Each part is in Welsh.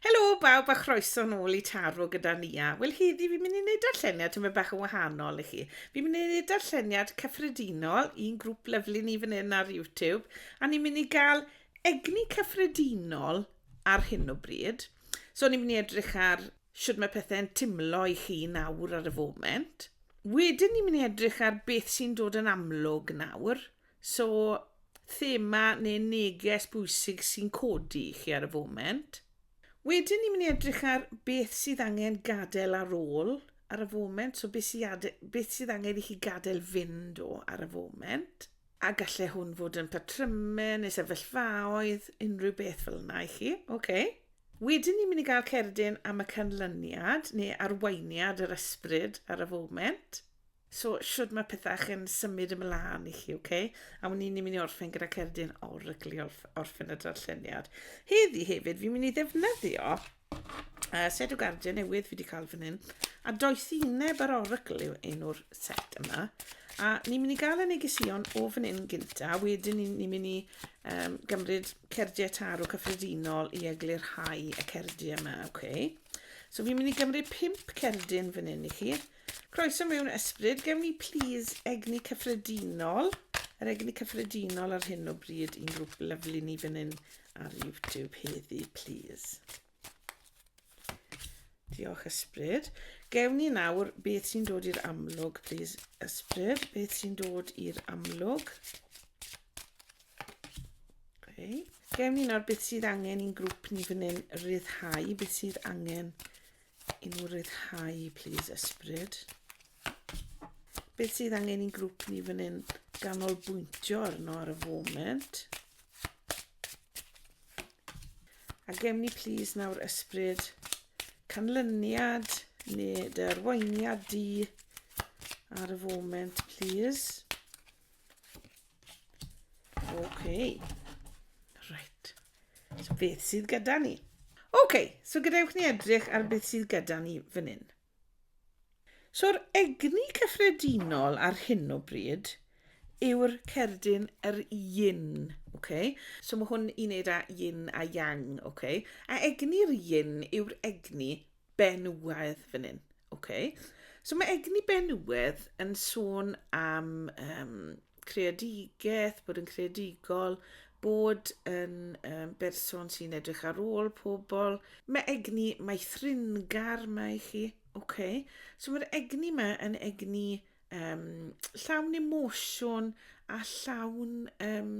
Helo bawb a chroeso nôl i Taro gyda Nia. Wel heddi fi'n mynd i wneud darlleniad tymed bach yn wahanol i chi. Fi'n mynd i wneud darlleniad cyffredinol i'n grŵp lyflu ni fan hyn ar YouTube a ni'n mynd i gael egni cyffredinol ar hyn o bryd. So ni'n mynd i edrych ar sut mae pethau'n timlo i chi nawr ar y foment. Wedyn ni'n mynd i edrych ar beth sy'n dod yn amlwg nawr So, thema neu neges bwysig sy'n codi i chi ar y foment. Wedyn ni'n mynd i edrych ar beth sydd angen gadael ar ôl ar y foment, so beth sydd, beth sydd angen i chi gadael fynd o ar y foment. A gallai hwn fod yn patrymau neu sefyllfaoedd, unrhyw beth fel yna i chi. Okay. Wedyn ni'n mynd i gael cerdyn am y canlyniad neu arweiniad yr ysbryd ar y foment. So, shwd mae pethau yn symud ymlaen i chi, okay? A wn i'n mynd i orffen gyda cerdyn oryglu orff, orffen y darlleniad. Heddi hefyd, fi'n mynd i ddefnyddio uh, set o gardiau newydd fi wedi cael fan hyn. A doethineb yr orygl yw enw'r set yma. A ni'n mynd i gael y negesion o fan hyn gynta, wedyn ni'n ni mynd i um, gymryd cerdiau tarw cyffredinol i eglurhau y cerdiau yma, okay? So fi'n mynd i gymryd pimp cerdyn fan hyn i chi. Croeso mewn ysbryd. Gewn ni plis egni cyffredinol? Yr egni cyffredinol ar hyn o bryd i'n grŵp lyflu ni fan hyn ar YouTube heddi, plis. Diolch ysbryd. Gewn ni nawr beth sy'n dod i'r amlwg, plis ysbryd. Beth sy'n dod i'r amlwg? Okay. Gewn ni nawr beth sydd angen i'n grŵp ni fan hyn ryddhau, beth sydd angen I nhw ryddhau, please, ysbryd. Beth sydd angen i'n grŵp ni fan hyn ganolbwyntio arno ar y foment? A gem ni, please, nawr ysbryd canlyniad neu dy arweiniad di ar y foment, please. OK. Right. So beth sydd gyda ni? OK, so gadewch ni edrych ar beth sydd gyda ni fan hyn. So'r egni cyffredinol ar hyn o bryd yw'r cerdyn yr yin. Okay? So mae hwn i wneud â yin a yang. Okay? A egni'r yin yw'r egni benywaidd fan hyn. Okay. So mae egni benywaidd yn sôn am um, creadigaeth, bod yn creadigol, bod yn um, berson sy'n edrych ar ôl pobl. Mae egni, mae thringar mae i chi. Okay. So mae'r egni yma yn egni um, llawn emosiwn a llawn um,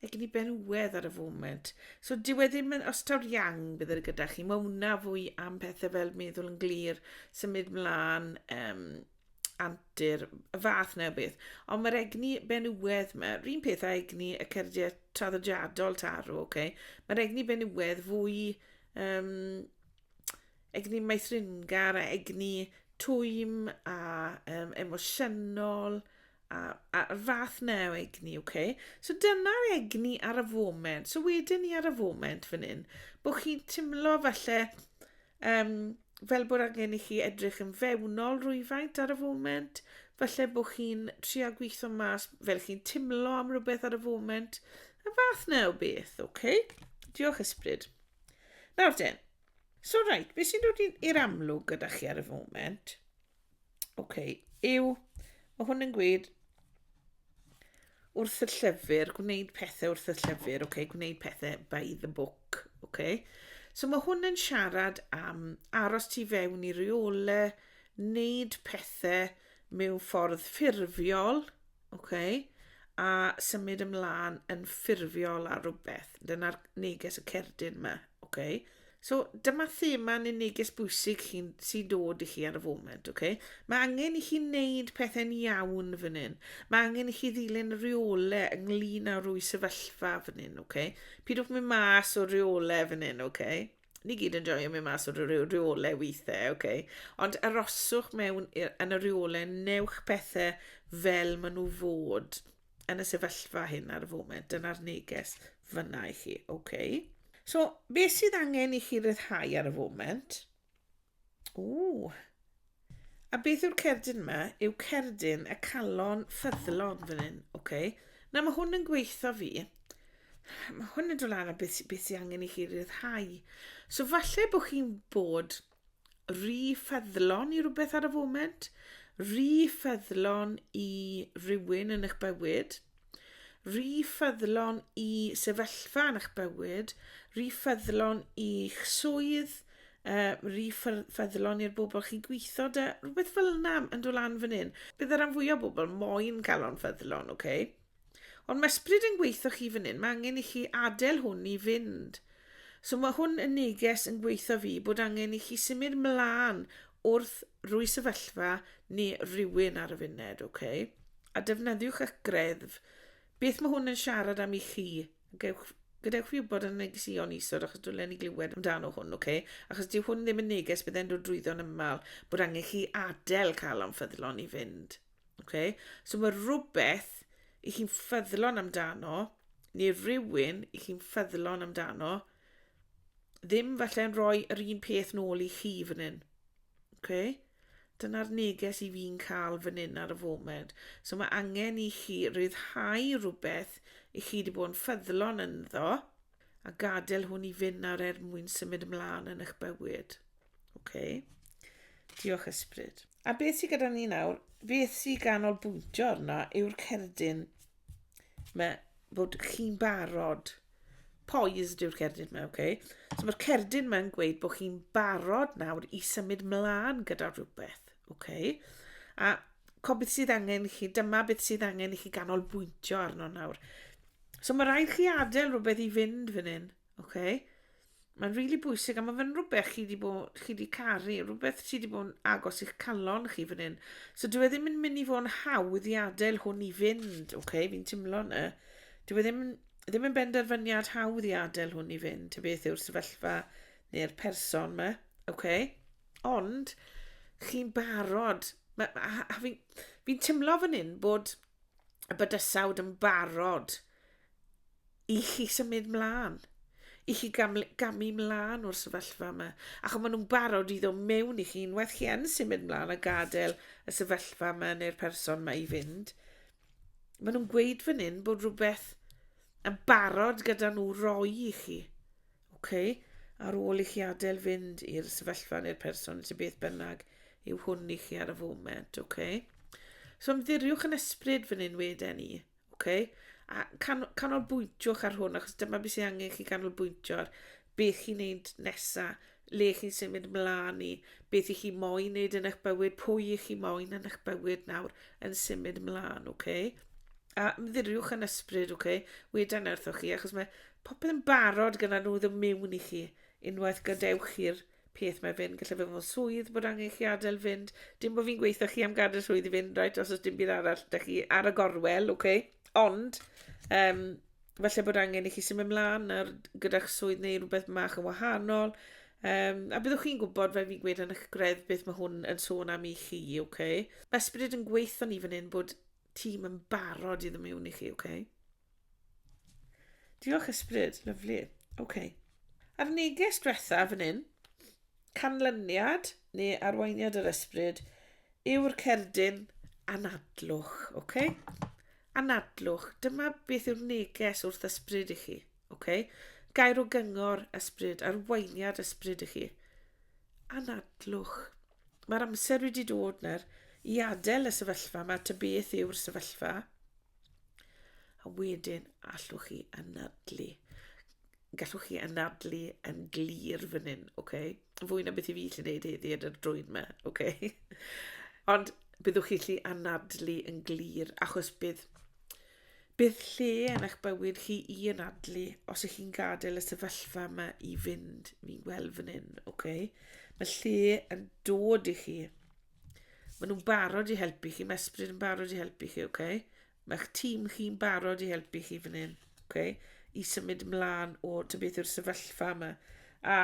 Mae gen i berwedd ar y foment. So dyw e ddim yn ostawr iang bydd e gyda chi. Mae hwnna fwy am pethau fel meddwl yn glir, symud mlaen, um, antur, y fath na beth. Ond mae'r egni benywedd yma, rhywun peth a egni y cerdiau traddodiadol tarw, oce? Okay? Mae'r egni benywedd fwy um, egni maethringar a egni twym a um, emosiynol a'r, a'r fath na o egni, oce? Okay? So dyna'r egni ar y foment. So wedyn ni ar y foment fan hyn, bod chi'n timlo falle um, fel bod angen i chi edrych yn fewnol rwyfaint ar y foment, falle bod chi'n trio gweithio mas fel chi'n timlo am rhywbeth ar y foment, y fath na o beth, oce? Okay? Diolch ysbryd. Nawr den, so rhaid, beth sy'n dod i'r amlwg gyda chi ar y foment? Oce, yw, mae hwn yn gweud wrth y llyfr, gwneud pethau wrth y llyfr, okay? gwneud pethau by the book. Okay? So mae hwn yn siarad am aros tu fewn i reole, wneud pethau mewn ffordd ffurfiol, Oce, a symud ymlaen yn ffurfiol ar rhywbeth. Dyna'r neges y cerdyn yma. Oce. So, dyma thema neu neges bwysig chi'n sy'n dod i chi ar y foment, oce? Mae angen i chi wneud pethau'n iawn fan hyn. Mae angen i chi ddilyn rheole ynglyn â rwy sefyllfa fan hyn, oce? Pidwch mynd mas o rheole fan hyn, oce? ni gyd yn joio mynd mas o rhyw rheolau weithiau, oce. Okay. Ond aroswch mewn yn y rheolau, newch pethau fel maen nhw fod yn y sefyllfa hyn ar y foment. Dyna'r neges fyna i chi, oce. Okay. So, beth sydd angen i chi ryddhau ar y foment? Ww. A beth yw'r cerdyn yma? Yw cerdyn y calon ffyddlon fan hyn. Oce. Okay. Na, mae hwn yn gweithio fi. Mae hwn yn dod lan a beth, beth sy'n angen i chi ryddhau. So falle bod chi'n bod rhy ffyddlon i rhywbeth ar y foment, rhy ffyddlon i rywun yn eich bywyd, rhy ffyddlon i sefyllfa yn eich bywyd, rhy ffyddlon i'ch swydd, uh, rif ffyddlon i'r bobl chi'n gweithio da, rhywbeth fel yna yn dod lan fan hyn. Bydd yr fwy o bobl moyn galon ffyddlon, oce? Okay? Ond mae ysbryd yn gweithio chi fan hyn, mae angen i chi adael hwn i fynd. So mae hwn yn neges yn gweithio fi bod angen i chi symud mlaen wrth rwy sefyllfa neu rhywun ar y funed, oce? Okay? A defnyddiwch y greddf. Beth mae hwn yn siarad am i chi? Gewch, gadewch fi wybod yn negesion isod achos dwi'n lenni glywed amdano hwn, oce? Okay? Achos dyw hwn ddim yn neges bydd e'n dod drwyddo'n ymal bod angen chi adael cael o'n ffyddlon i fynd. Oce? Okay? So mae rhywbeth i chi'n ffyddlon amdano, neu rhywun i chi'n ffyddlon amdano, ddim falle'n rhoi yr un peth nôl i chi fan hyn. Okay? Dyna'r neges i fi'n cael fan hyn ar y foment. So mae angen i chi ryddhau rhywbeth i chi wedi bod yn ffyddlon ynddo a gadael hwn i fynd nawr er mwyn symud ymlaen yn eich bywyd. Okay. Diolch ysbryd. A beth sydd gyda ni nawr? Beth sydd ganolbwyntio arno yw'r cerdyn. Mae fod chi'n barod. Poised yw'r cerdyn yma, oce? Okay? So mae'r cerdyn yma'n gweud bod chi'n barod nawr i symud mlaen gyda rhywbeth, oce? Okay? A co beth sydd angen i chi, dyma beth sydd angen i chi ganolbwyntio arno nawr. So mae rhaid chi adael rhywbeth i fynd fan hyn. Ok. Mae'n rili really bwysig, a mae fe'n rhywbeth chi wedi bod, chi wedi caru, rhywbeth chi wedi bod yn agos i'ch calon chi fan hyn. So dwi e ddim yn mynd i fod yn hawdd i adael hwn i fynd, ok, fi'n timlo yna. Dwi e ddim, ddim yn benderfyniad hawdd i adael hwn i fynd, ta beth yw'r sefyllfa neu'r person yma, ok. Ond, chi'n barod, a, a, a fi'n fi, fi timlo fan hyn bod y bydysawd yn barod i chi symud mlaen, i chi gamu mlaen o'r sefyllfa yma. Ac ond maen nhw'n barod i ddod mewn i chi unwaith chi yn symud mlaen a gadael y sefyllfa yma neu'r person yma i fynd. Maen nhw'n gweud fan hyn bod rhywbeth yn barod gyda nhw roi i chi. Okay? Ar ôl i chi adael fynd i'r sefyllfa neu'r person sy'n beth bynnag yw hwn i chi ar y foment. Okay? So ymddiriwch yn ysbryd fan hyn wedyn ni. Oce? A can- canolbwyntiwch ar hwn, achos dyma beth sydd angen chi canolbwyntio ar. Beth chi'n neud nesa, le chi'n symud mlaen i, beth i chi moyn neud yn eich bywyd, pwy i chi moyn yn eich bywyd nawr yn symud mlaen, oce? A ymddiriwch yn ysbryd, oce? Weda na wrthoch chi, achos mae popeth yn barod gyda nhw ddim mewn i chi, unwaith gadewch chi'r peth mae fe'n gallu fod mewn swydd bod angen chi adael fynd. Dim bod fi'n gweithio chi am gadael swydd i fynd, right, os oes dim byd arall, da chi ar y gorwel, oce? Okay? Ond, um, falle bod angen i chi symud ymlaen ar, gyda'ch swydd neu rhywbeth mach yn wahanol. Um, a byddwch chi'n gwybod, fe fi'n gweud yn eich gredd, beth mae hwn yn sôn am i chi, oce? Okay? Mae ysbryd yn gweithio ni fan hyn bod tîm yn barod i ddim mewn i chi, oce? Okay? Diolch ysbryd, lyflu. OK. A'r neges diwetha fan hyn, canlyniad neu arweiniad yr ysbryd yw'r cerdyn anadlwch, oce? Okay? Anadlwch, dyma beth yw'r neges wrth ysbryd i chi, oce? Okay? Gair o gyngor ysbryd, arweiniad ysbryd i chi. Anadlwch. Mae'r amser wedi dod nawr i adael y sefyllfa yma, ta beth yw'r sefyllfa. A wedyn allwch chi anadlu. Gallwch chi anadlu yn glir fan hyn, oce? Okay? Fwy na beth i fi allu gwneud heddi ar yr drwyn yma, oce? Okay? Ond byddwch chi allu anadlu yn glir, achos bydd bydd lle yn eich bywyd chi i anadlu os ych chi'n gadael y sefyllfa yma i fynd, fi'n gweld fan hyn, oce? Okay? Mae lle yn dod i chi Maen nhw'n barod i helpu chi. Mae ysbryd yn barod i helpu chi, oce? Okay? Mae'ch tîm chi'n barod i helpu chi fan hyn, oce? Okay? I symud ymlaen o ty beth yw'r sefyllfa yma. A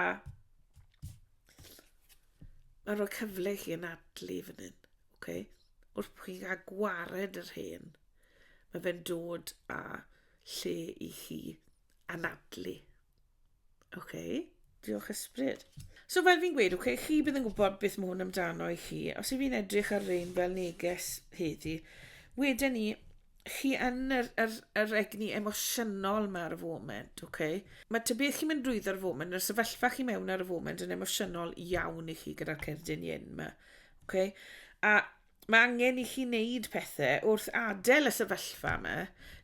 mae'n rhoi cyfle i chi yn adlu fan hyn, oce? Okay? Wrth chi'n cael gwared yr hen, mae fe'n dod a lle i chi anadlu. OK. Diolch ysbryd. So fel fi'n gweud, okay, chi bydd yn gwybod beth mae hwn amdano i chi. Os yw fi'n edrych ar rein fel neges heddi, wedyn ni, chi yn yr, yr, yr egni emosiynol mae ar y foment, okay? Mae ty beth chi'n mynd drwyddo ar y foment, yr sefyllfa chi mewn ar y foment yn emosiynol iawn i chi gyda'r cerdyn yin yma. Okay? A Mae angen i chi wneud pethau wrth adael y sefyllfa yma,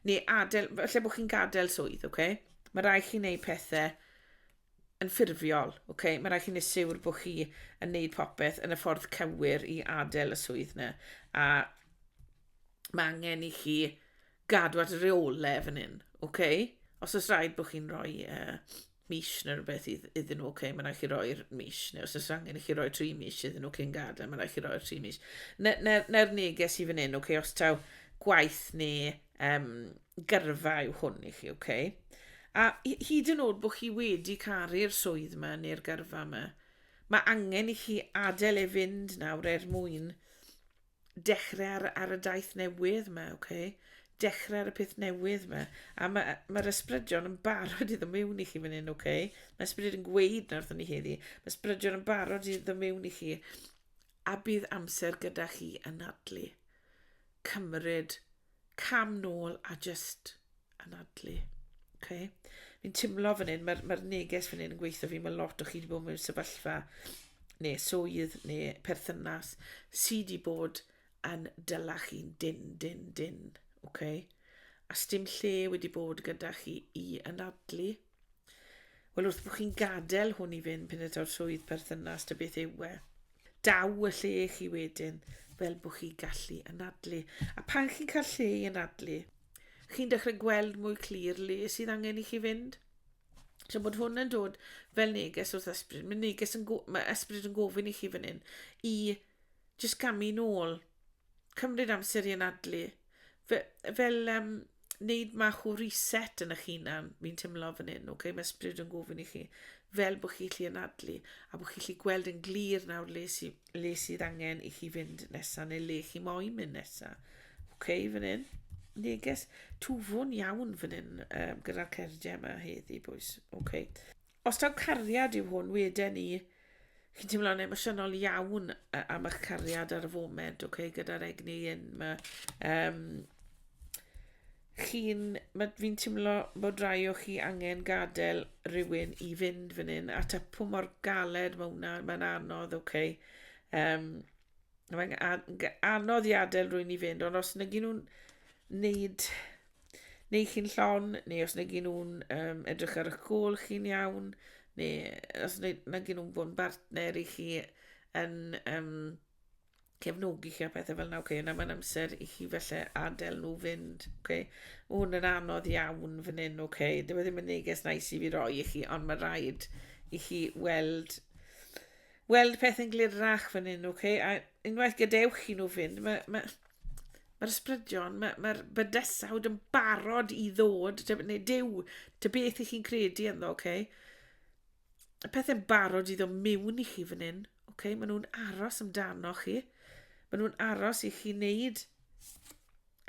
neu adael, lle bod chi'n gadael swydd, oce? Okay? Mae rai chi wneud pethau yn ffurfiol, oce? Okay? Mae rai chi wneud siwr bod chi yn wneud popeth yn y ffordd cywir i adael y swydd yna. A mae angen i chi gadw at reolau fan hyn, oce? Okay? Os oes rhaid bod chi'n rhoi uh, mis neu rhywbeth idd- iddyn nhw, okay, mae'n rhaid chi roi'r mis, neu os oes angen i chi roi tri mis iddyn nhw cyn gadael, mae'n rhaid chi roi'r tri mis. Neu'r ne, ne, ne neges i fan hyn, okay, os taw gwaith neu um, gyrfa yw hwn i chi, okay? A hyd yn oed bod chi wedi caru'r swydd yma neu'r gyrfa yma, mae angen i chi adael e fynd nawr er mwyn Dechrau ar, ar y daith newydd yma, oce? Okay? Dechrau ar y peth newydd yma. A mae'r ma, ma ysbrydion yn barod i ddymewn i chi fan hyn, oce? Okay? Mae ysbryd yn gweud na wrthyn ni heddi. Mae ysbrydion yn barod i ddymewn i chi. A bydd amser gyda chi yn adlu. Cymryd cam nôl a just anadlu. Okay. Fi'n timlo fan hyn, mae'r mae neges fan hyn yn gweithio fi, mae lot o chi wedi bod mewn sefyllfa neu swydd neu perthynas sydd wedi bod yn dyla chi'n dyn, dyn, dyn. Okay. A stym lle wedi bod gyda chi i anadlu. Wel, wrth bod chi'n gadael hwn i fynd pyn eto'r swydd perthynas dy beth yw e. Daw y lle chi wedyn fel bod chi gallu anadlu. A pan chi'n cael lle i anadlu, chi'n dechrau gweld mwy clir le sydd angen i chi fynd. So bod hwn yn dod fel neges wrth ysbryd. Mae neges yn, mae ysbryd yn gofyn i chi fan hyn i jyst gamu nôl, cymryd amser i anadlu, fe- fel um, wneud mach o reset yn eich hunan, fi'n teimlo fan hyn, okay? mae ysbryd yn gofyn i chi, fel bod chi'n lli anadlu, a bod chi'n lli gweld yn glir nawr le, sy, le sydd angen i chi fynd nesaf, neu le chi moyn mynd nesaf. Okay, fan hyn. Neges twfwn iawn fan hyn um, gyda'r cerdiau yma heddi, bwys. Okay. Os taw cariad yw hwn, weden ni, chi'n teimlo'n emosiynol iawn yy am eich cariad ar y foment, ok, gyda'r egni hyn 'ma. Yym, chi'n... ma'... fi'n teimlo bod rai o chi angen gadael rywun i fynd fan hyn, a tapu mor galed ma' hwnna, ma'n anodd, ok. Yym. mae'n anodd i adael rwy'n i fynd, ond os negi nhw'n wneud neu chi'n llon, neu os negi nhw'n um, edrych ar eich gol chi'n iawn, neu os negi nhw'n bod yn bartner i chi yn um, cefnogi chi a pethau fel yna, okay, yna mae'n amser i chi felly adael nhw fynd. Okay. Mae hwn yn anodd iawn fan hyn, okay. Dyma e ddim yn neges nais i fi roi i chi, ond mae rhaid i chi weld weld y pethau'n glirach fan hyn, ok? A unwaith gadewch chi nhw fynd, mae'r ma, ma ysbrydion, mae'r ma, ma bydysawd yn barod i ddod, neu dew, ta beth i chi'n credu ynddo, ok? Y pethau'n barod i ddod mewn i chi fan hyn, ok? Maen nhw'n aros amdano chi. Maen nhw'n aros i chi wneud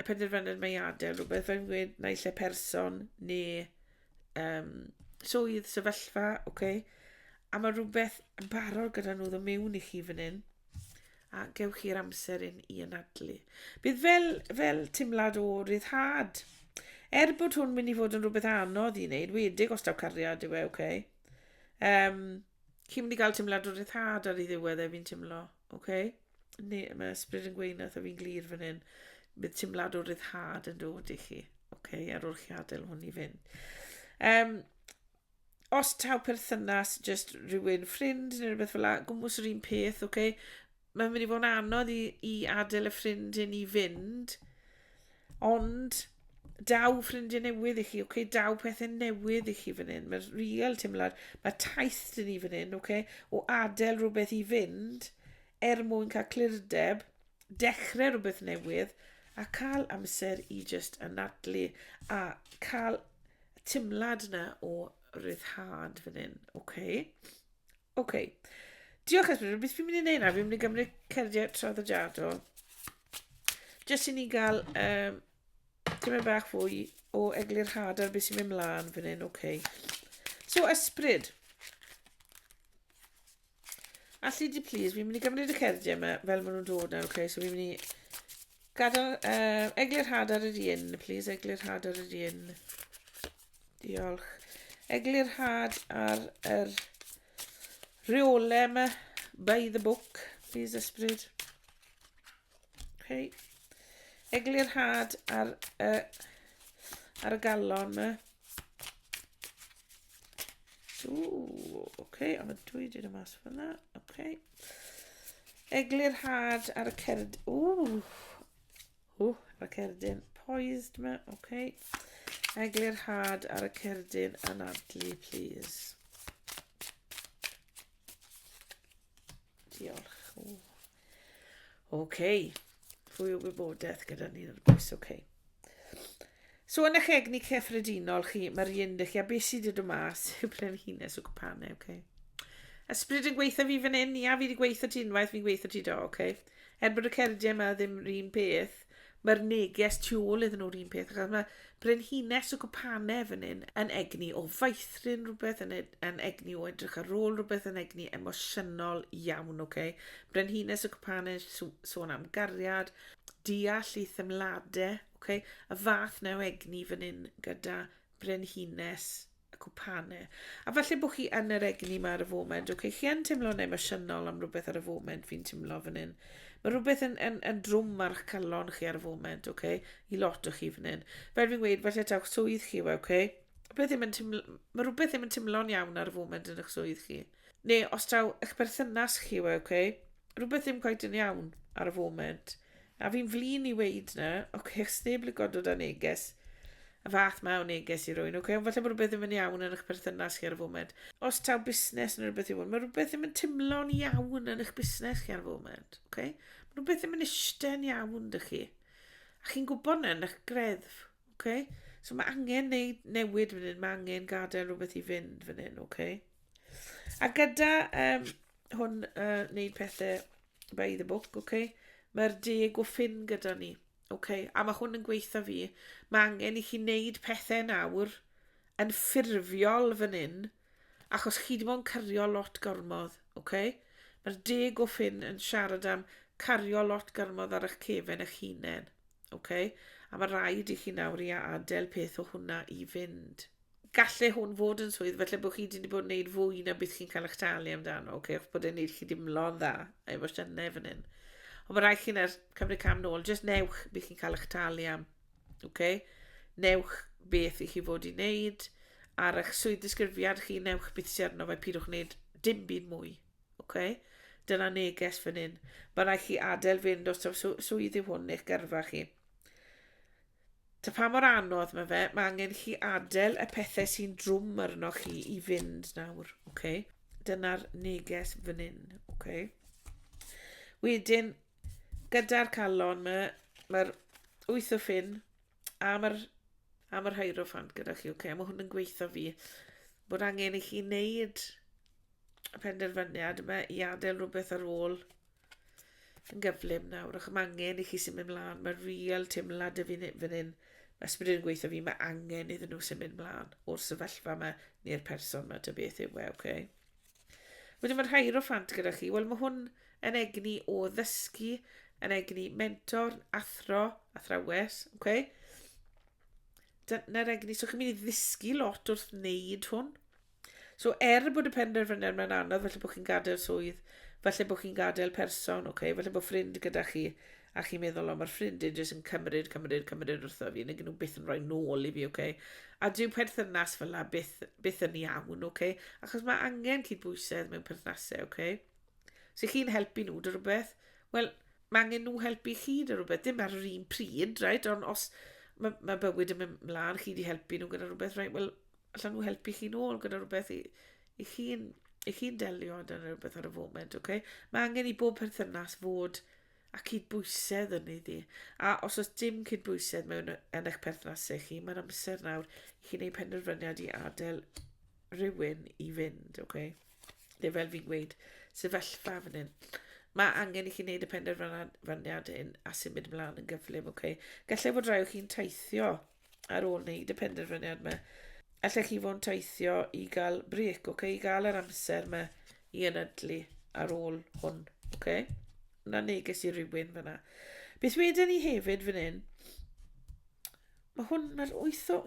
y penderfyniad mae adael rhywbeth fe'n gweud naill lle person neu um, swydd, sefyllfa, oce. Okay? A mae rhywbeth yn barod gyda nhw ddod mewn i chi fan hyn. A gewch chi'r amser yn i anadlu. Bydd fel, fel timlad o ryddhad. Er bod hwn mynd i fod yn rhywbeth anodd i wneud, wedig os daw cariad yw e, oce. Okay? Um, Chi'n mynd i gael teimlad o ryddhad ar ei ddiwedd e, fi'n teimlo, oce? Okay? Ne, mae ysbryd yn gweud nath o fi'n glir fan hyn. Bydd teimlad o ryddhad yn dod i chi, oce? Okay? Ar ôl chi adael hwn i fynd. Um, os taw perthynas, just rhywun ffrind neu rhywbeth fel la, gwmwys yr un peth, oce? Okay? mae'n mynd i fod yn anodd i, i adael y ffrind hyn i fynd, ond daw ffrindiau newydd i chi, oce, okay? daw pethau newydd i chi fan hyn, mae'r real teimlad, mae taith dyn ni fan hyn, oce, okay? o adael rhywbeth i fynd, er mwyn cael clirdeb, dechrau rhywbeth newydd, a cael amser i just anadlu, a cael teimlad yna o ryddhad fan hyn, oce? Okay? Ok. Diolch Esbyd. Beth fi'n mynd i wneud nawr? Fi'n mynd i gymryd cerdiau traddodiadol. Jyst i ni gael um, tymed bach fwy o eglurhad ar beth sy'n mynd mlaen fan hyn. Ok. So, ysbryd. Alli di please, fi'n mynd i gymryd y cerdiau yma fel maen nhw'n dod nawr, ok? So fi'n mynd i Gadael, uh, eglurhad ar yr un, please, eglurhad ar yr un. Diolch. Eglurhad ar yr rheole yma. By the book, please ysbryd. Okay. Eglurhad ar, uh, ar y galon yma. Ooh, okay, am y dwy dyn y mas fyna. Okay. Eglurhad ar y cerdd... Ooh, Ww, mae cerdyn poised yma, oce. Okay. Eglur had ar y cerdyn anadlu, please. Diolch. Oce. Okay. Fwy o wybodaeth gyda ni'n yr bwys, oce. Okay. So yn eich egni cyffredinol chi, mae'r un dych chi, a beth sydd wedi dod mas yw brenhines o gwpanau, oce. Okay. Ysbryd yn gweithio fi fan hyn, ia, fi wedi gweithio ti unwaith, fi'n gweithio ti do, oce. Okay. Er bod y cerdiau yma ddim yr un peth, mae'r neges tu ôl iddyn nhw'r un peth, achos mae brenhines o gwpane fan hyn yn egni o faethryn rhywbeth, yn, ed, yn egni o edrych ar ôl rhywbeth, yn egni emosiynol iawn, oce? Okay? Brenhines o gwpane sôn am gariad, deall i themladau, oce? Okay? Y fath na o egni fan hyn gyda brenhines y cwpane. A falle bod chi yn yr egni yma ar y foment, oce, okay, chi yn teimlo'n emosiynol am rhywbeth ar y foment, fi'n teimlo fan hyn. Mae rhywbeth yn, yn, yn drwm ar eich calon chi ar y foment, oce, okay, i lot o chi fan hyn. Fel fi'n gweud, falle tawch swydd chi, oce, okay? Rhywbeth ddim yn teimlo, mae rhywbeth ddim yn teimlo'n iawn ar y foment yn eich swydd chi. Neu os taw eich berthynas chi, oce, okay? rhywbeth ddim gwaith yn iawn ar y foment. A fi'n flin i weid na, ok, os neb yn lico dod â neges, y fath mae o neges i rwy'n, ok, ond falle bod rhywbeth ddim yn iawn yn eich berthynas chi ar y foment. Os taw busnes neu rhywbeth yw hwn, mae rhywbeth ddim yn timlo'n iawn yn eich busnes chi ar y foment, ok? Mae rhywbeth ddim yn eistedd iawn dych chi. A chi'n gwybod na yn eich greddf, ok? So mae angen neud newid fan hyn, mae angen gadael rhywbeth i fynd fan hyn, ok? A gyda um, hwn uh, wneud pethau By the book, ok? Mae'r deg o ffyn gyda ni. Ok, a mae hwn yn gweitha fi. Mae angen i chi wneud pethau nawr yn ffurfiol fan hyn, achos chi di bod yn cario lot gormodd, ok? Mae'r deg o ffyn yn siarad am cario lot gormodd ar eich cefen eich hunain, ok? A mae rhaid i chi nawr i adael peth o hwnna i fynd. gallu hwn fod yn swydd, felly bod chi wedi bod yn gwneud fwy na beth chi'n cael eich talu amdano, okay? achos bod e'n gwneud chi dimlo'n dda, a efo sianau fan hyn. Ond mae rhaid chi'n er, cymryd cam nôl, jyst newch beth chi'n cael eich talu am. Okay? Newch beth i chi fod i wneud, ar eich swydd disgrifiad chi, newch beth sy'n arno fe, pidwch wneud dim byd mwy. Okay? Dyna neges fan hyn. Mae rhaid chi adael fynd os taw swydd yw hwn eich gyrfa chi. Ta pa mor anodd mae fe, mae angen chi adael y pethau sy'n drwm arno chi i fynd nawr, oce? Okay? Dyna'r neges fan hyn, oce? Okay? Wedyn, gyda'r calon mae, mae'r wyth o ffyn a mae'r a mae'r hierophant gyda chi, oce? Okay? Mae hwn yn gweithio fi bod angen i chi wneud y penderfyniad yma i adael rhywbeth ar ôl yn gyflym nawr ac mae angen i chi symud mlaen. Mae real teimlad y fi'n fan hyn. Mae ysbryd yn gweithio fi, mae angen iddyn nhw symud mlaen o'r sefyllfa yma neu'r person yma, dy beth yw e, oce? Okay? Wedyn mae'r hair o ffant gyda chi. Wel, mae hwn yn egni o ddysgu, yn egni mentor, athro, athrawes, oce? Okay? Dyna'r egni, so chi'n mynd i ddysgu lot wrth wneud hwn. So er bod y penderfyniad mae'n anodd, felly bod chi'n gadael swydd, felly bod chi'n gadael person, okay, felly bod ffrind gyda chi, a chi'n meddwl, o, mae'r ffrind yn jyst yn cymryd, cymryd, cymryd wrtho fi, neu gen nhw byth yn rhoi nôl i fi, okay? A dyw perthynas fel la byth, byth yn iawn, okay? Achos mae angen cydbwysedd mewn perthnasau, okay? So chi'n helpu nhw dy rhywbeth, wel, mae angen nhw helpu chi dy rhywbeth, dim ar yr un pryd, right? Ond os mae, mae bywyd yn mynd mlaen, chi wedi helpu nhw gyda rhywbeth, right? Wel, allan nhw helpu chi nôl gyda rhywbeth i, i chi'n i chi delio â dyna rhywbeth ar y foment, okay? Mae angen i bob perthynas fod a cydbwysedd yn ei ddi. A os oes dim cydbwysedd mewn yn eich perthnasau chi, mae'n amser nawr i chi'n ei penderfyniad i adael rhywun i fynd, okay? Neu fel fi'n gweud, sefyllfa fan hyn. Mae angen i chi wneud y penderfyniad hyn a symud ymlaen yn gyflym, okay? Gallai fod rhaid chi'n teithio ar ôl wneud y penderfyniad yma. Allech chi fod yn teithio i gael brec, oce, okay? i gael yr amser yma i ynadlu ar ôl hwn, oce? Okay? Na neges i rywun fyna. Beth wedyn ni hefyd fan hyn, mae hwn, mae'r wyth o,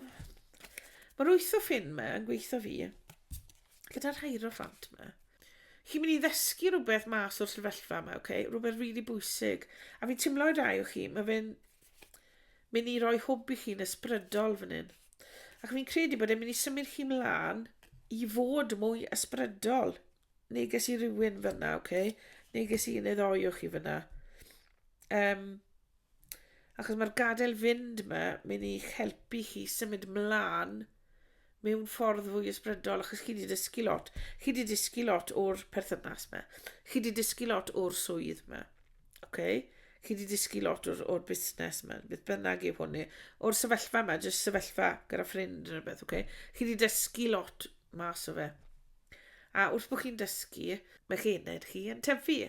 mae'r wyth o ffyn yma yn gweithio fi, gyda'r hieroffant yma. Chi'n mynd i ddysgu rhywbeth mas o'r sefyllfa yma, okay? rhywbeth rili really bwysig. A fi'n teimlo i rai o chi, mae fe'n mynd i roi hwb i chi'n ysbrydol fan hyn. Ac fi'n credu bod e'n mynd i symud chi mlaen i fod mwy ysbrydol. Neges i rywun fyna, oce? Okay? Neges i un ddoi o chi fyna. Um, achos mae'r gadael fynd yma, mynd i'ch helpu chi symud mlaen mewn ffordd fwy ysbrydol, achos chi wedi dysgu lot. Chi wedi dysgu lot o'r perthynas yma. Chi wedi dysgu lot o'r swydd yma. Okay? Chi wedi dysgu lot o'r, or busnes yma, beth bynnag yw hwnni. O'r sefyllfa yma, jyst sefyllfa gyda ffrind yn rhywbeth, okay? Chi wedi dysgu lot mas o fe. A wrth bod chi'n dysgu, mae chi ened chi yn tyfu.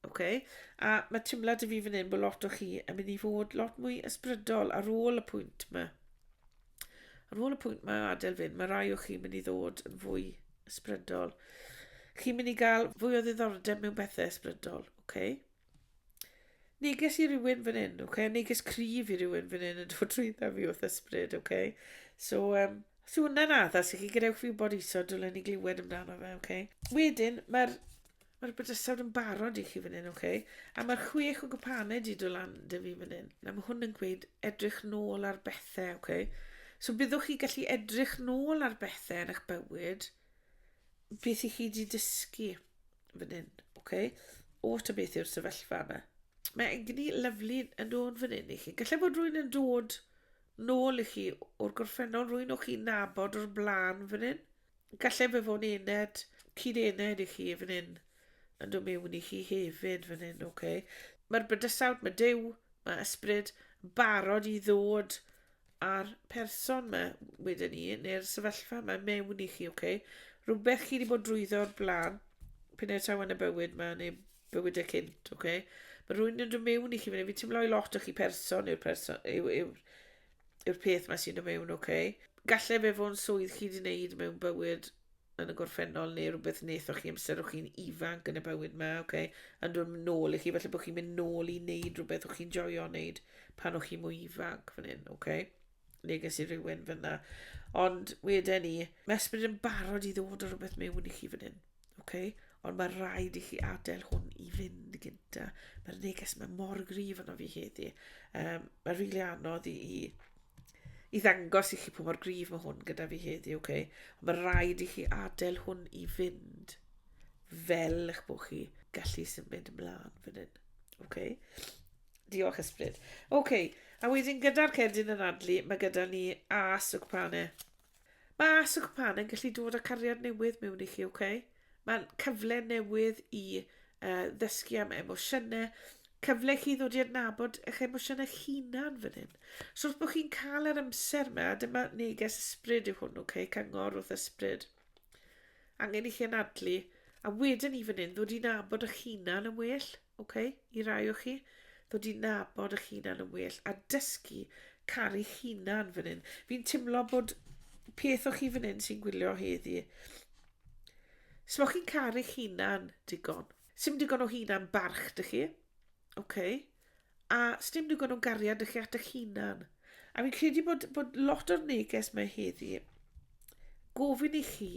Okay? A mae teimlad i fi fan hyn bod lot o chi yn mynd i fod lot mwy ysbrydol ar ôl y pwynt yma. Ar ôl y pwynt mae adael fynd, mae rai o chi mynd i ddod yn fwy ysbrydol. Chi'n mynd i gael fwy o ddiddordeb mewn bethau ysbrydol, oce? Okay? Neges i rywun fan hyn, oce? Okay? Neges cryf i rywun fan hyn yn dod trwy dda fi wrth ysbryd, oce? Okay? So, um, os yw hwnna'n addas i chi, gadewch fi wybod iso, dylen ni glywed amdano fe, oce? Okay? Wedyn, mae'r Mae'r bydysawd yn barod i chi fan hyn, oce? A mae'r chwech o gwpanau di do lan dy fi fan hyn. Na, mae hwn yn gweud edrych nôl ar bethau, oce? So byddwch chi gallu edrych nôl ar bethau yn eich bywyd, beth i chi di dysgu fan hyn, oce? O ta beth yw'r sefyllfa yma. Mae egni lyflu yn dod fan hyn i chi. Gallai bod rwy'n yn dod nôl i chi o'r gorffennol, rwy'n o'ch chi'n nabod o'r blaen fan hyn. Galle fe fod yn ened, cyd-ened i chi fan hyn, yn dod mewn i chi hefyd fan hyn, oce? Mae'r bydysawd, mae Duw, mae ysbryd yn barod i ddod a'r person mae wedyn ni, neu'r sefyllfa mae mewn i chi, oce? Rhywbeth chi wedi bod drwyddo o'r blaen, pyn e'r taw yn y bywyd mae, neu bywyd y cynt, oce? Mae rhywun yn dod mewn i chi fan hyn, fi teimlo i lot o chi person yw'r person, yw'r yw, yw'r peth mae sy'n y mewn, oce. Okay. Gallai fe fod yn swydd chi wedi wneud mewn bywyd yn y gorffennol neu rhywbeth wnaethoch chi amser o'ch chi'n ifanc yn y bywyd yma, oce. Okay. Yn dod nôl i chi, felly bod chi'n mynd nôl i wneud rhywbeth o'ch chi'n joio wneud pan o'ch chi'n mwy ifanc fan hyn, oce. Okay. Neu ges i rhywun fyna. Ond wedyn ni, mae ysbryd yn barod i ddod o rhywbeth mewn i chi fan hyn. Ok? Ond mae rhaid i chi adael hwn i fynd gynta. Mae'r neges mae mor grif yno fi heddi. Um, mae rili really anodd i, i, i ddangos i chi pwy mor grif mae hwn gyda fi heddi, ok? Ond mae rhaid i chi adael hwn i fynd fel eich bod chi gallu symud ymlaen fan hyn. Ok? Diolch ysbryd. Ok, a wedyn gyda'r cerdyn yn adlu, mae gyda ni as y cwpanau. Mae Ask a Cwpan yn gallu dod â cariad newydd mewn i chi, oce? Okay? Mae'n cyfle newydd i uh, ddysgu am emosiynau, cyfle chi ddod i adnabod eich emosiynau hunan fan hyn. So wrth bod chi'n cael yr amser yma, dyma neges ysbryd yw hwn, oce? Okay? Cyngor wrth ysbryd. Angen i chi anadlu, a wedyn i fan hyn ddod i'n abod eich hunan yn well. Ok, i rai o chi, ddod i nabod eich hunan yn well a dysgu caru'ch hunan fan hyn. Fi'n timlo bod peth o chi fan hyn sy'n gwylio heddi. Os chi'n caru'ch hunan digon, sy'n digon o hunan barch dych chi, ok, a sy'n digon o gariad dych chi at eich hunan. A fi'n credu bod, bod lot o'r neges mae heddi gofyn i chi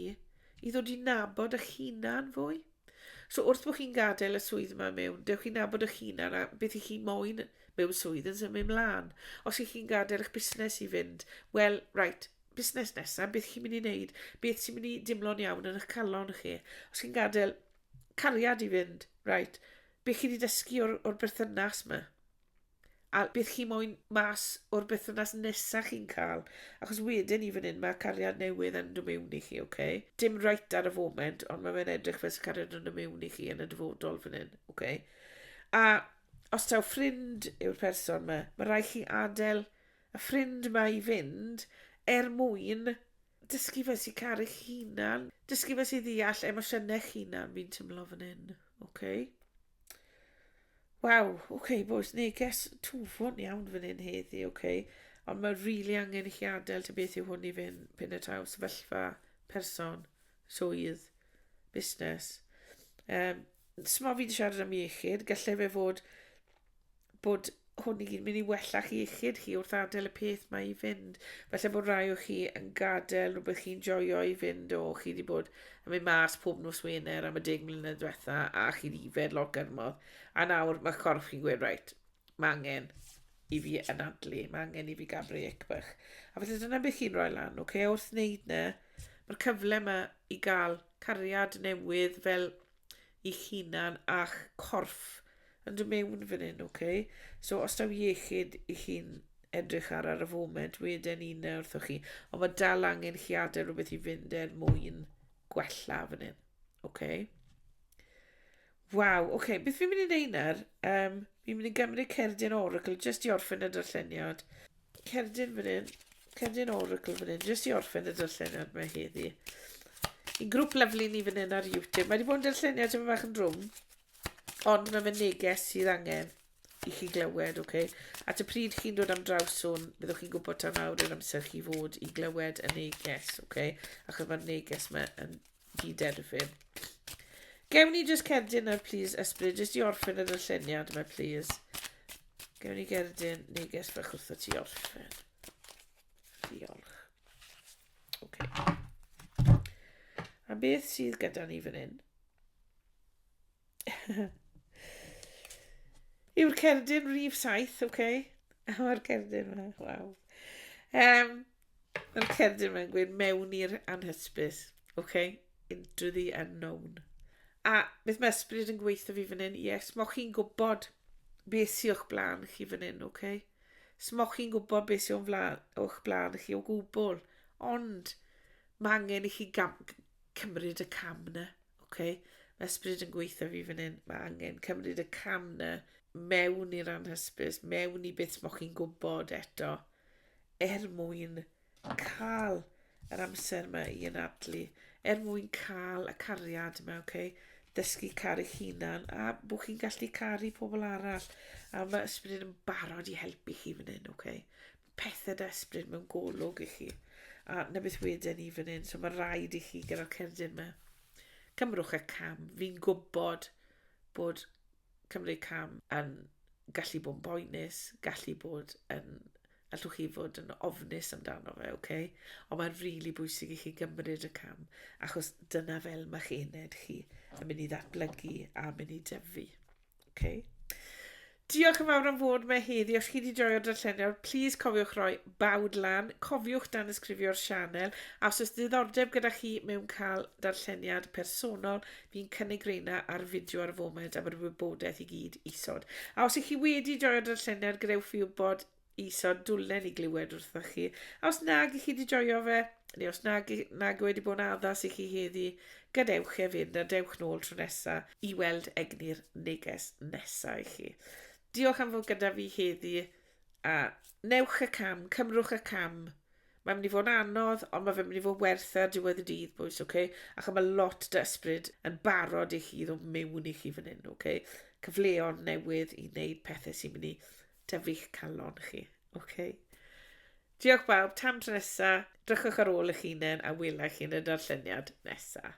i ddod i nabod eich hunan fwy. So wrth bod chi'n gadael y swydd yma mewn, dewch chi'n nabod eich hunan a beth i chi moyn mewn swydd yn symud mlaen. Os ych chi'n gadael eich busnes i fynd, wel, right, busnes nesaf, beth chi'n mynd i wneud, beth sy'n mynd i dimlo'n iawn yn eich calon chi. Os chi'n gadael cariad i fynd, right, beth chi wedi dysgu o'r, or berthynas yma. A bydd chi moyn mas o'r bythynas nesaf chi'n cael, achos wedyn i fan hyn mae cariad newydd yn dod mewn i chi, oce? Okay? Dim right ar y foment, ond mae fe'n edrych fel sy'n cariad yn dod mewn i chi yn y dyfodol fan hyn, oce? Okay? A os taw ffrind yw'r person yma, mae rhaid chi adael y ffrind yma i fynd er mwyn Dysgu fe sy'n caru hunan. Dysgu fe sy'n ddeall emosiynau hunan, fi'n tymlo fan hyn. Okay. Waw, oce okay, boys, neges tufon iawn fan hyn heddi, oce. Okay. Ond mae rili really angen i chi adael ta beth yw hwn i fynd pyn y taw sefyllfa, person, swydd, busnes. Um, Sma fi wedi siarad am iechyd, gallai fe fod bod hwn i'n mynd i wella chi iechyd chi wrth adael y peth mae i fynd. Felly bod rai o chi yn gadael rhywbeth chi'n joio i fynd o chi wedi bod yn mynd mas pob nos Wener am y deg mlynedd diwetha a chi wedi yfed lot gyrmodd. A nawr mae corff chi'n gweud, reit, mae angen i fi anadlu, mae angen i fi gael brec bach. A felly dyna beth chi'n rhoi lan, oce, okay? wrth wneud na, mae'r cyfle yma i gael cariad newydd fel eich hunan a'ch corff yn dod mewn fan hyn, okay? So, os daw iechyd i chi'n edrych ar ar y foment, wedyn un na wrthoch chi. Ond mae dal angen chi adael rhywbeth i fynd er mwyn gwella fan hyn, okay? Waw, oce, okay, beth fi'n mynd i wneud nawr? Um, fi'n mynd i gymryd cerdyn Oracle jyst i orffen y darlleniad. cerdyn fan hyn, cerdyn oracle fan hyn, jyst i orffen y darlleniad mae heddi. Yn grŵp lyflu ni fan hyn ar YouTube. Mae wedi bod yn darlleniad tyfu fach yn drwm, ond mae fe'n neges sydd angen i chi glywed, oce? Okay? At y pryd chi'n dod am draws hwn, byddwch chi'n gwybod tan awr yr amser chi fod i glywed y neges, oce? Okay? Achos mae'r neges yma yn Cyd-erfyn. Gewn ni just cerdyn nawr, please, Ysbryd, jyst i orffen y darlleniad yma, please. Gewn ni gerdyn neges bach wrtho ti orffen. Diolch. Ok. A beth sydd gyda ni fan hyn? Yw'r cerdyn rif 7, ok? Mae'r cerdyn yma, waw. Um, Mae'r cerdyn mae'n gweud mewn i'r anhysbys. OK, into the unknown. A beth mae ysbryd yn gweithio fi fan hyn? Yes, mo chi'n gwybod beth sy'n o'ch blaen chi fan hyn, OK? So mo chi'n gwybod beth sy'n o'ch blaen chi o gwbl. Ond mae angen i chi gam, cymryd y cam na, OK? Mae ysbryd yn gweithio fi fan hyn. Mae angen cymryd y cam na mewn i'r anhysbys, mewn i beth mo chi'n gwybod eto. er mwyn cael yr amser mae i anadlu, er mwyn cael y cariad mae, okay? dysgu caru hunan, a bod chi'n gallu caru pobl arall, a mae ysbryd yn barod i helpu chi fan hyn, okay? pethau da ysbryd mewn golwg i chi, a na beth wedyn ni fan hyn, so mae rhaid i chi gyda'r cerdyn yma. Cymrwch y cam, fi'n gwybod bod cymryd cam yn gallu bod yn boenus, gallu bod yn allwch chi fod yn ofnus amdano fe, oce? Okay? Ond mae'n rili really bwysig i chi gymryd y cam, achos dyna fel mae'ch ened chi yn mynd i ddatblygu a mynd i dyfu. Okay? Diolch yn fawr am fod me heddi. Os chi wedi joio'r darlleniad, please cofiwch roi bawd lan. Cofiwch dan ysgrifio'r sianel. A os oes diddordeb gyda chi mewn cael darlleniad personol, Fi'n cynnig reina ar fideo ar y foment am yr wybodaeth i gyd isod. A os ych chi wedi joio'r darllenedd, gadewch fi wybod isod dwlen i glywed wrthoch chi. A os nag ych chi wedi joio fe, neu os nag, nag wedi bod yn addas i chi heddi, gadewch e fynd a dewch nôl tro nesa i weld egni'r neges nesa i chi. Diolch am fod gyda fi heddi. A wnewch y cam, cymrwch y cam. Mae'n mynd i fod yn anodd, ond mae fe'n mynd i fod werth e ar diwedd y dydd, boys, oce? Okay? Ac mae lot dy ysbryd yn barod i chi i ddod mewn i chi fan hyn, oce? Okay? Cyfleon newydd i wneud pethau sy'n mynd i tyfu'ch calon chi, oce? Okay? Diolch bawb, tan tro nesa, drychwch ar ôl eich hunain a welai chi yn y darlleniad nesa.